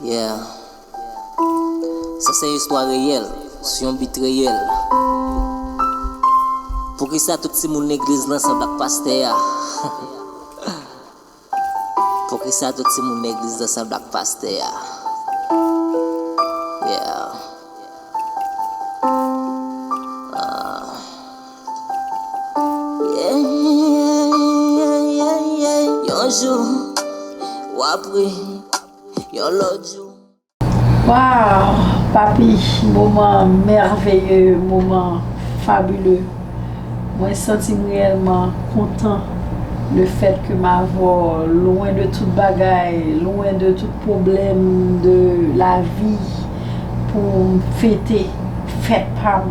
Yeah Sa se yon istwa reyèl sou yon bit reyèl Poukisa tout timoun legliz lan sanble ak pastè a Poukisa tout timoun legliz lan sanble ak pastè a Yeah Ahh. Waww papi moman mèveye moman fabile mwen santim reyèlman kontan le fèt ke m avw lwen de tout bagay lwen de tout pwoblèm de lavi poum fete fèt pam.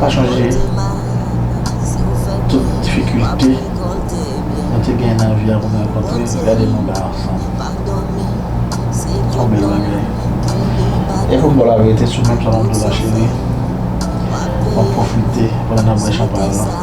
Pa chonje tout difikilte nou te gen nan vi a pou n rankontre gade nou la ansanm yon bèl bagay e pou m ba w laverite sou menm salon de la cheri map pwofite pandan nap bwè chanpay lan.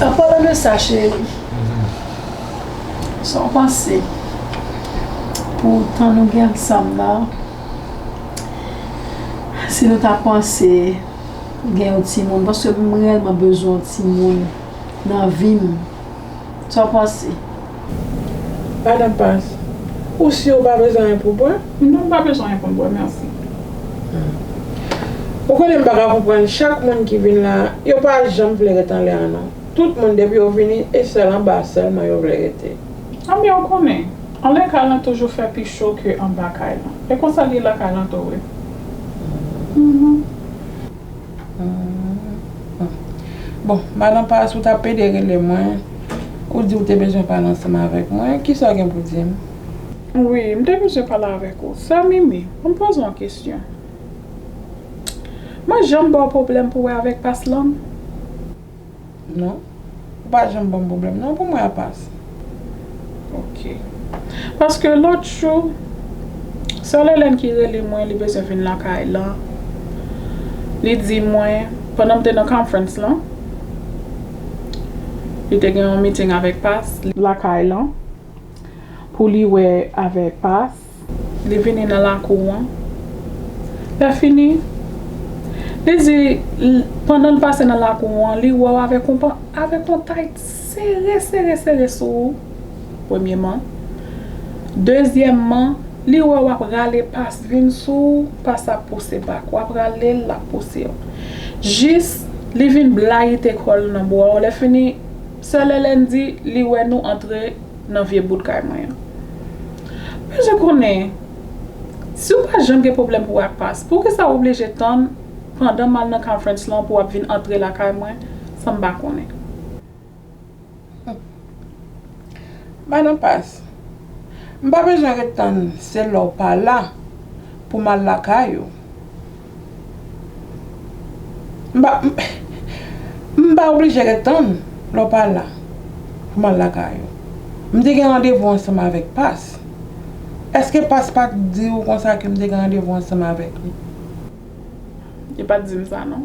An palan de sa cheri, sa w panse pou tan nou gen ansanm nan, si nou ta panse gen yon timoun, paske m reyèlman bezwen yon timoun nan vi m Sa w panse? Madan Pas, Ou si ou pa bezwen anyen pou w bwè? Non, m pa bezwen anyen pou m bwè, mèsi. Ou konnen m pa ka konprann chak moun ki vin la a, yo pa janm vle ret anlè an non. Tout moun depi yo vini, e sèl anba a sèlman yo vle rete. Anben ou konnen, anlè kay lan toujou fè pi cho ke anba kay lan. E konsa l ye lakay lan tou wi. Bon, madan pas ou ta pede rele mwen, ou di ou te bezwen pale ansanm avèk mwen, kisa ou gen pou di m? Wi, m te bezwen pale avèk ou. Sè Mimi, an m poze w yon kesyon. Mwen janm ba w pwoblèm pou wè avèk pas lan? Non. Ou pa janm banm pwoblèm non pou mwen a pas. Ok. Paske lòt jou Sè Lelène ki rele mwen li bezwen vin lakay lan li di mwen pandan m te nan conference lan li te gen yon meeting avèk pas lakay lan pou li wè avèk pas. Li vini nan lakou an. Lè fini, li di, pandan l pase nan lakou an, li wè w avèk yon tayt sere sere sere sou ou, premyeman. Dezyèmman, li wè w ap rale pas vin sou ou, pas ap pouse bak. W ap rale l, l ap pouse w. Jis li vin blayite kò l nan bra w. Lè fini, sè Lèlèn di li wè nou antre. nan vye bout kay mwen an. Bezwen konnen, si w pa janm gen pwoblèm pou w ak pas, poukisa w oblije tann pandan m al nan conference lan pou w ap vin antre lakay mwen san m pa konnen? Madan pas, m pa bezwen ret tann se lè w pa la pou m al lakay ou. M pa oblije ret tann lè w pa la pou m al lakay ou. M te gen randevou ansanm avèk Pas. Èske Pas pa t di ou konsa ke m te gen randevou ansanm avèk li? Li pa t di m sa non.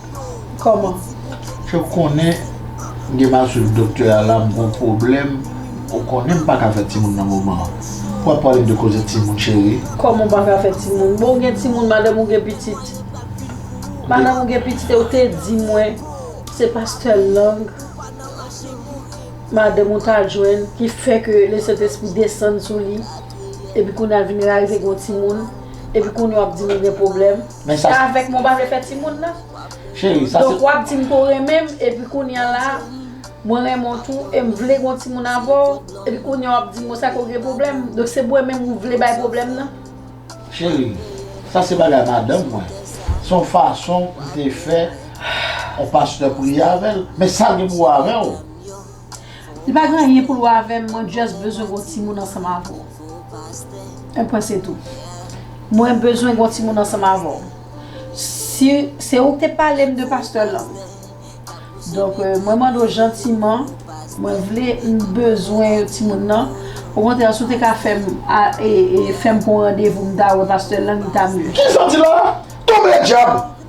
Koman. Ke w konnen m gen mal swiv doktè a la m gon pwoblèm ou konnen m paka fè timoun nan moman an pou wap pale m de koze timoun cheri. Koman w paka fè timoun. Bon ou gen timoun madanm ou gen pitit madanm ou gen pitit e ou te di mwen se pastè lang madanm ou ta jwenn ki fè ke le sentespri desann sou li epi kounye a vin rarive gen yon timoun epi kounye a wap di m ou gen pwoblèm. Men sa. Avèk mwen ou pa vle fè timoun nan. Cheri sa se. Donk wap dim ke w renmen m epi kounya la mwen renmen w tou e m vle gen yon timoun avè w epi kounya wap dim mwen sa ke w gen pwoblèm. Donk se mwen menm ou vle bay pwoblèm nan. Cheri sa se bagay madanm mwen. Se yon fason m te fè yon pastè priye avè l. Men sa l gen pou wè avè w. Li pa gen anyen pou l wè avè m, mwen just bezwen gen yon timoun ansanm avè w. Yon pwen se tou. Mwen bezwen gen yon timoun ansanm avè w. Si se ou k te pale m de pastè Lang. Donk mwen mande w jantiman, mwen vle, m bezwen yon timoun nan. Okontrè si w te ka fè m fè m pou yon randevou m ta wè pastè Lang li ta mye. Kisa w di la? Tonbe dyab!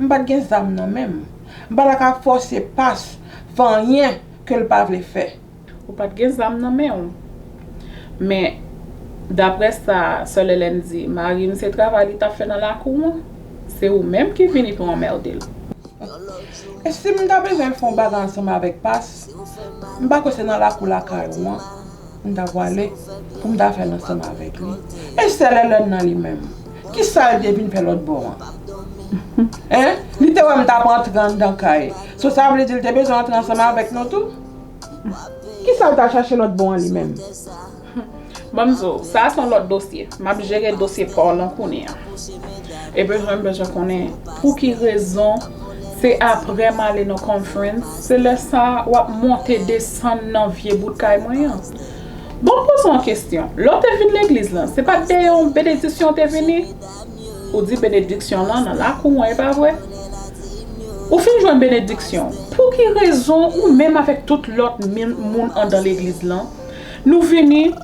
M pat gen zam nan menm. M pa ta ka fòse Pas fè anyen ke l pa vle fè. Ou pat gen zam nan men w. Men, daprè sa Sè Lèlèn di, mari m se travay li t ap fè nan lakou an. Se ou menm ki vini pou anmède l. E si m ta bezwen fè yon bagay ansanm avèk Pas, m pa kwè se nan lakou lakay ou an m ta pwale pou m ta fè l ansanm avèk li. E Sè Lèlèn nan li menm? Kisa yo te vin fè lòt bò an? Hein? Li te wè m t ap antre anndan kay. So sa vle di li te bezwen antre ansanm avèk nou tou? Kisa l t al chache lòt bò an li menm? Ban m di w, sa a s on lòt dosye. M ap jere dosye pa w lan kounye a. E pi tou m bezwen konnen pou ki rezon se aprè m ale nan conference se lè sa a w ap monte desann nan vye bout kay mwen an? Bon m poze w yon kesyon, lè w te vin legliz lan, se pa t dèyè yon benediksyon w te vini? Ou di benediksyon lan nan lakou an, e pa vre? Ou fin jwenn benediksyon w, pou ki rezon ou menm avèk tout lòt moun andan legliz lan, nou vini,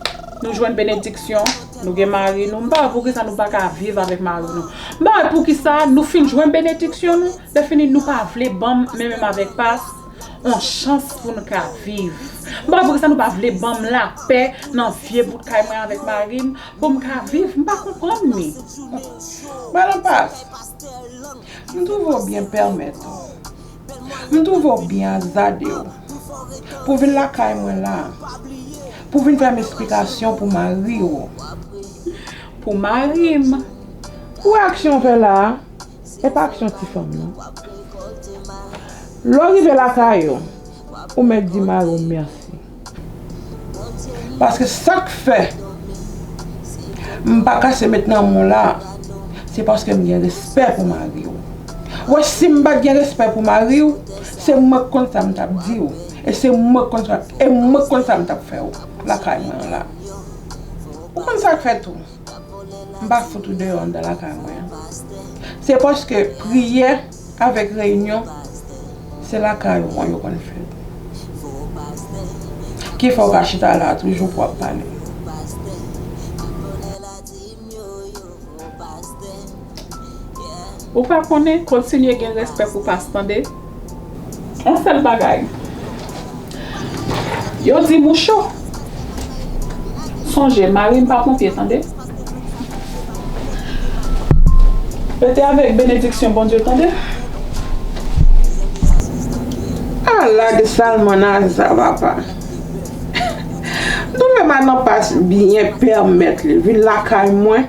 nou jwenn benediksyon, nou gen mari nou, m pa wè pou ki sa nou pa ka viv avèk mari nou, m pa wè pou ki sa nou fin jwenn benediksyon nou, lèfini nou pa vle ban m menmenm avèk pas, On chans pou n ka viv. M pa vre sa nou pa vle ban m lapè nan vye bout kay mwen avèk mari m pou m ka viv. M pa konprann ni. Madan Pas, m twouve w byen pèmèt ou. M twouve w byen azade w pou vin lakay mwen la a pou vin fè m esplikasyon pou mari w. Pou mari m. Kou aksyon w fè la a, Ou pa k yon ti fanm non. Lè w rive lakay ou, ou mèt di mari w mèsi. Paske sa k fè m pa kase met nan men w la, se paske m gen respè pou mari w. Ou wè si m pa t gen respè pou mari w, se mwen k konn sa m t ap di w e se mwen k konn sa m t ap fè w lakay mwen an la. Ou konn sa k fè tou. M pa fout ou deyò anndan lakay mwen an. Se paske priyè avèk reyinyon se lakay ou an yo konn fèt. Ki fè ou pa chita la a toujou pou ap pale. Ou pa konnen, kontinye gen respè pou pas tande. On sèl bagay. Yo di mou cho. Sonje mari m pa ponpye tande. Rete avèk benediksyon Bondye tande. A la de salmanaza papa. Doulè manan pas byen pèmèt li vin lakay mwen.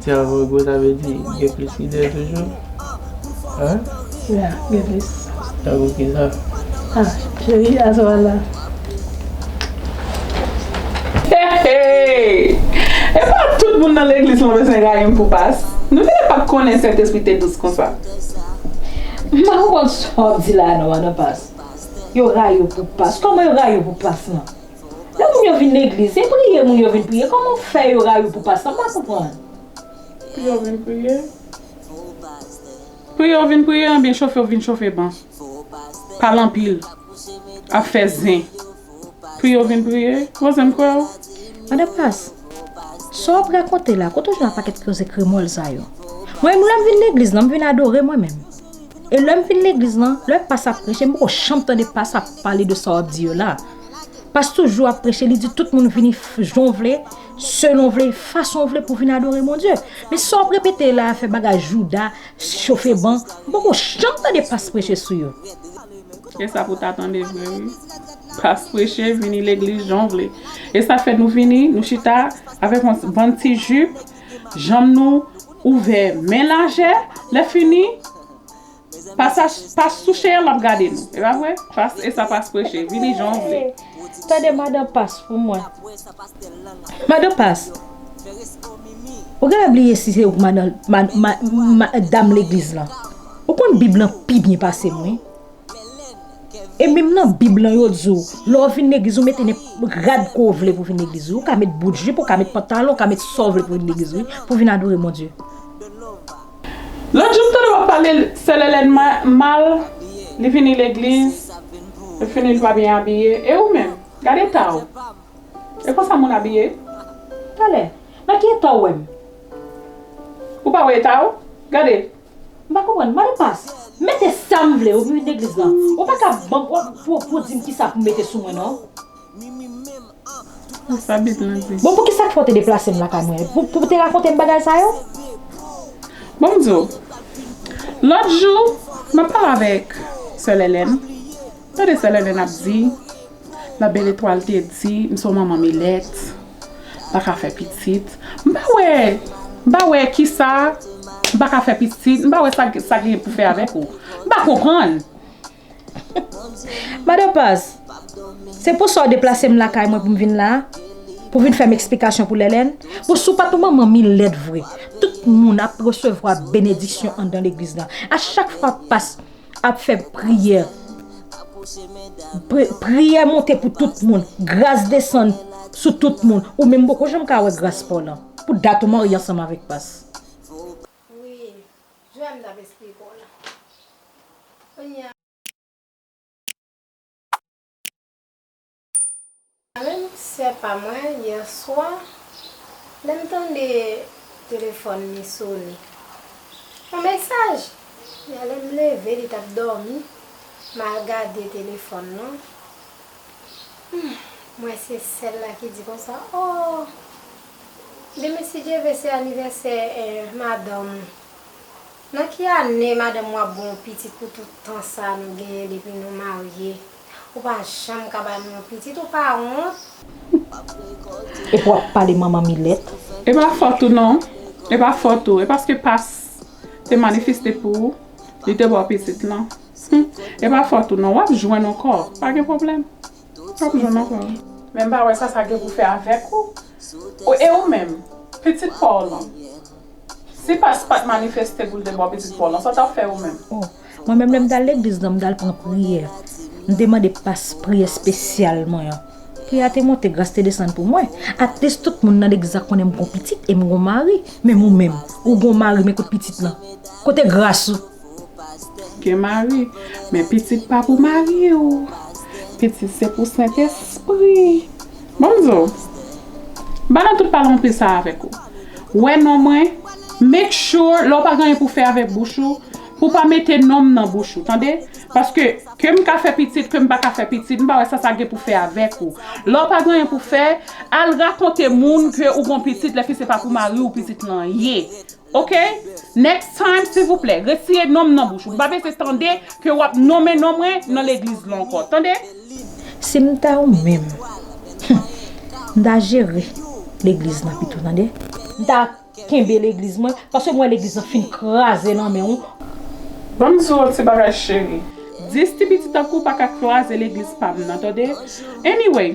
Ti agogo sa vle di gen plis lidè toujou? Hein? Ya gen plis. Tankou kisa? Ah cheri a swa la. Heheheh! Epa tout moun nan legliz lan bezwen rayi m pou pas. Nou genlè pat konnen Sentespri te dous konsa. M pa konprann sa w di la non madan pas. Yo rayi w pou pas. Kòman yo rayi w pou pas lan? Lè moun yo vin legliz se priye moun yo vin priye koman ou fè yo rayiw pou pastè m pa konprann. Pou yo vin priye? Priye ou vin priye anbyen chofe ou vin chofe ban. Pale anpil. Ap fè zen. Priye ou vin priye? Voisin m kwè w. Madan Pas, sa w ap rakonte la, kote w jwenn paket koze kremòl sa yo? Mwen menm lè m vin legliz lan, m vin adore mwen menm. E lè m fin legliz lan, lè Pas ap preche, m poko janm tande Pas ap pale de sa w ap di yo la. Pas toujou ap preche li di tout moun vini jan vle, selon vle, fason vle pou vin adore Bondye. Men sa w ap repete la a fè bagay jouda, chofe ban, m poko janm tande pas preche sou yo. E sa pou w ta tande vre wi. Pas preche vini legliz jan w vle. E sa fè nou vini, nou chita avèk yon bann ti jup, janm nou ouvè men lajè, lè fini Pasach pas touche an map gade nou epa vre pas esa pas preche vini jan w vle. Tande madan pas pou mwen. Madan pas Ou genlè bliye si se ou ki madan dam legliz lan Ou konn bib lan pi byen pasem wi E menm nan bib lan yo di w lè w vin legliz ou mete nenpòt rad ke w vle pou w vin legliz wi Ou ka met bout jip ou ka met pantalon ou ka met sa w vle pou w vin legliz wi pou w vin adore Bondye. Lòt jou m tande wap pale selele n mal li vini legliz l fini l pa byen abiye e ou menm gad eta w e konsa moun abiye talè nan ki eta w wè m ou pa wè eta w gade m pa konprann mande pas. Mete sam vle ou vini legliz lan ou paka banm pou di m kisa pou mete sou mwen non. Bon pou kisa k fè w te deplase m lakay mwen? Pou w te rakonte m bagay sa yo? Bon m di w. Lòt jou, m ap pale avèk sè Lèlèn. Tande sè Lèlèn ap di, Labèl Etwal te di m se yon manman milèt, m pa ka fè pitit. M pa wè, m pa wè kisa m pa ka fè pitit, m pa wè sa sa gen pou fè avèk ou. M pa konprann. Madan Paz, se pou sa w deplase m lakay mwen pou m vin la a? Pou vin fè m eksplikasyon pou Lèlèn? Bon, si w pa t yon manman mi lèd vre, tout moun ap resevwa benediksyon anndan legliz la. A chak fwa pas ap fè priyè, priyè monte pou tout moun, gras desann sou tout moun. Ou menm poko janm ka wè gras pa w lan. Pou dat ou marye ansanm avèk pas. Wi Joel nap esplike w la Kounye a menm sè pa mwen yè swa lèm tande telefòn li sone yon mesaj yè lèm leve li tap dòmi mal gade telefòn lan humm m wè se sèl la ki di konsa ooh. Demen si Dye ve se anivèsè madanm ou. Nan ki ane madanm ou ap ba w yon pitit pou tout tan sa nou genyen depi nou marye? Ou pa janm ka ba nou yon pitit ou pa wont? Epi wap pale manman milet. E pa fòt ou non, e pa fòt ou, e paske pas te manifeste pou ou li te baw pitit lan, humm e pa fòt ou non wap jwenn on kò pa gen problèm. Pap janm ankò. Men m pa wè sa sa gen pou fè avèk ou. E ou menm, pitit pa w lan? Si Pas pa t manifeste pou l te ba w pitit pa w lan, sa w t ap fè ou menm? O, mwen menm lè m t al legliz lan, m t al pran priyè. M te mande Pas priyè espesyal mwen an. Priyè a te monte, gras te desann pou mwen. Atlis tout moun nan legliz la konnen m gon pitit e m gon mari. Menm ou menm, ou gon mari men kote pitit lan? Kote gras ou? Gen mari, men pitit pa pou mari w. Pitit se pou Sentespri. Bon m di w, m pa nan tout pale anpil sa avèk ou. Wè non mwen, make sure lè w pa gen anyen pou w fè avèk bouch ou, pou w pa mete non m nan bouch ou, tande. Paske, ke m ka fè pitit, ke m pa ka fè pitit, m pa wè sa sa gen pou fè avèk ou. Lè w pa gen anyen pou w fè, al rakonte moun ke ou gon pitit, lèfi se pa pou mari w pitit lan ye. Ok next time silvouplè retire nonm nan bouch ou mpa vle se tande ke wap nonmen non mwen nan legliz lan ankò tande. Sim ta ou menm humm m ta jere legliz lan pito tande. M ta kenbe legliz mwen paske m wè legliz lan fin kraze nan men ou. Banm di w yon ti bagay cheri. 10 ti piti tankou w paka kraze legliz pam nan tande anyway.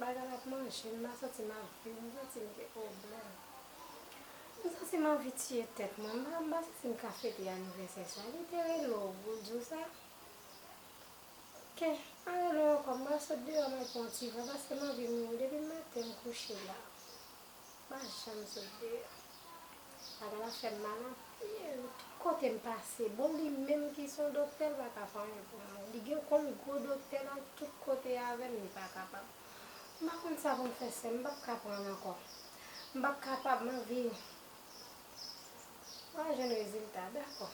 Bagay la ap manje m ma santi m ap viv m santi m gen pwoblèm m santi m anvi tiye tèt mwen m pa santi m ka fete anivèsè sa li te rele w pou l di w sa ok m pa rele w ankò m pral sot deyò m al pran yon ti vè paske m anvi mouri depi maten m kouche la. Mwen pa janm sove yo. Bagay la fèm mal anpil. Tout kotem pase. Bon li menm ki son doktè li paka fè anyen pou mwen. Li gen kòm gwo doktè nan tout kote avèm li pa kapab. M pa konn sa poum fè sèm m pap ka prann ankò. M pap kapab m anvi m al jwenn rezilta dakò.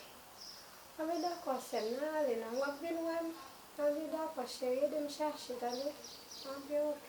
Anvi dakò sèm nan ale nan wap vin wèm. Anvi dakò cheri edem chache tande. Anvi ok.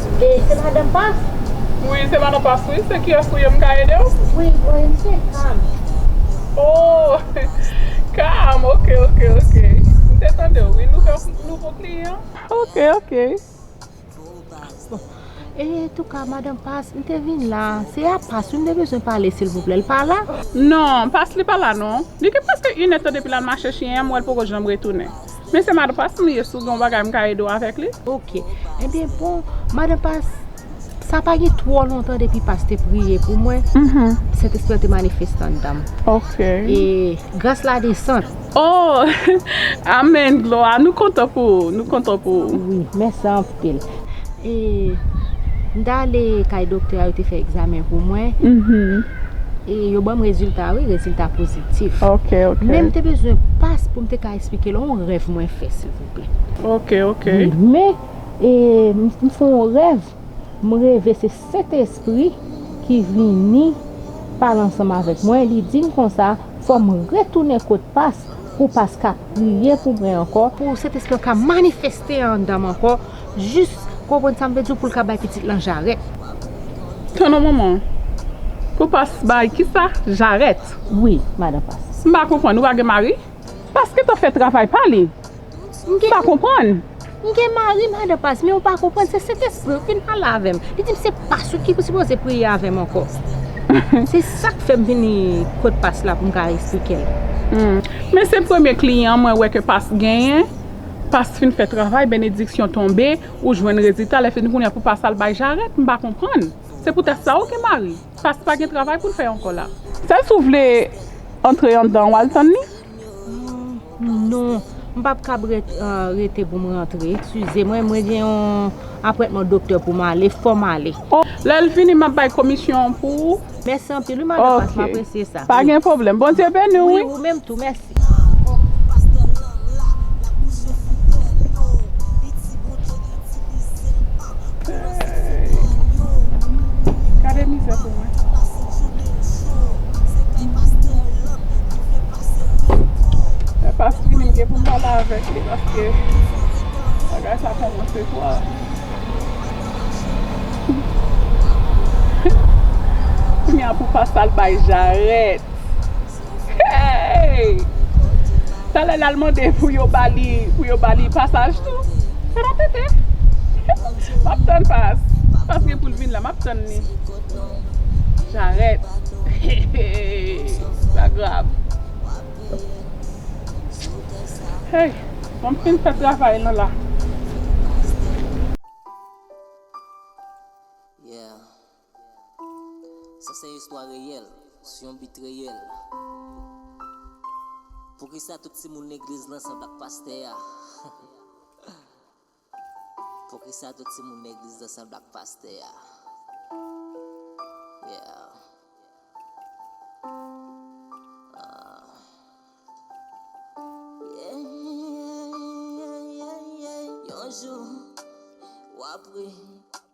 E se madan past? Wi se madan past wi se kiyes ou ye m ka edew? Wi mwen m se cam. Oh cam ok ok ok m te tandew wi nouvo kliyan. Ok ok bon e touka madan past m te vin la se a past wi m te bezwen pale silvouplè l pa la? Non past li pa la non li gen preske inèd tan depi lal mache chyen an m wèl poko janm retounen. Mesye madan pas m ye si w gen yon bagay m ka ede w avèk li. Ok Ebyen bon madan pas sa pa gen twò lontan depi pas te priye pou mwen sentespri an te manifeste anndan m e gras la desann. Oh Amèn glwa nou kontan pou ou nou kontan pou ou. Wi mèsi anpil M t ale kay doktè a yo te fè egzamen pou mwen E yo banm rezilta wi rezilta pozitif Men m te bezwen pas pou m te ka esplike l yon rèv mwen fè silvouplè Men m fè yon rèv m reve se. Sentespri ki vini pale ansanm avèk mwen, li di m konsa, fò m retounen kot pas, pou pas ka priye pou mwen ankò, pou Sentespri an ka manifeste anndan m ankò, jis, konprann sa m vle di w, pou l ka bay pitit lan jarèt. Tann on moman. Pou pas bay kisa? Jarèt? Wi, madan pas. M pa konprann, ou pa gen mari? Pas gentan fè travay pa li. M gen. M pa konprann. M gen mari madan pas men ou pa konprann se Sentespri w ki pale avè m. Li di m se pas ou ki sipoze priye avè m ankò. Se sa k fè m vini kot pas la pou m ka esplike l. Men se premye kliyan mwen wè ke pas genyen. Pas fin fè travay, benediksyon tonbe, ou jwenn rezilta lè fini kounye a pou pas al bay jarèt. M pa konprann. Se poutèt sa ou gen mari. Pas pa gen travay pou l fè ankò la. Sèl si w vle antre anndan w al tann li. Non, m pap kab rete pou m rantre. Eskize mwen, mwen gen yon apwèntman doktè pou m ale, fò m ale. Lè l fini, m ap bay komisyon an pou ou. Mèsi anpil wi Madan Pas, m apresye sa. Pa gen pwoblèm. Bondye beni w wi. Wi, ou menm tou. Mèsi. Gade mizè pou mwen. Lè pas fini m gen pou m pale avèk li paske bagay sa kòmanse twò. Kounya pou pas al bay jarèt. Hey! Talè lal mande pou yo ba li pou yo ba li pasaj tou. Sa pa pete. Map tann pas. Pas gen poul vin la map tann li. Jarèt. Sa grav. Hey! Fòm fin fè travay lan la. Yeah. Sa se istwa reyèl, sou yon bit reyèl. Poukisa tout timoun legliz lan sanble ak pastè a? Poukisa tout timoun legliz lan sanble ak pastè a? Yon jou, w ap ri.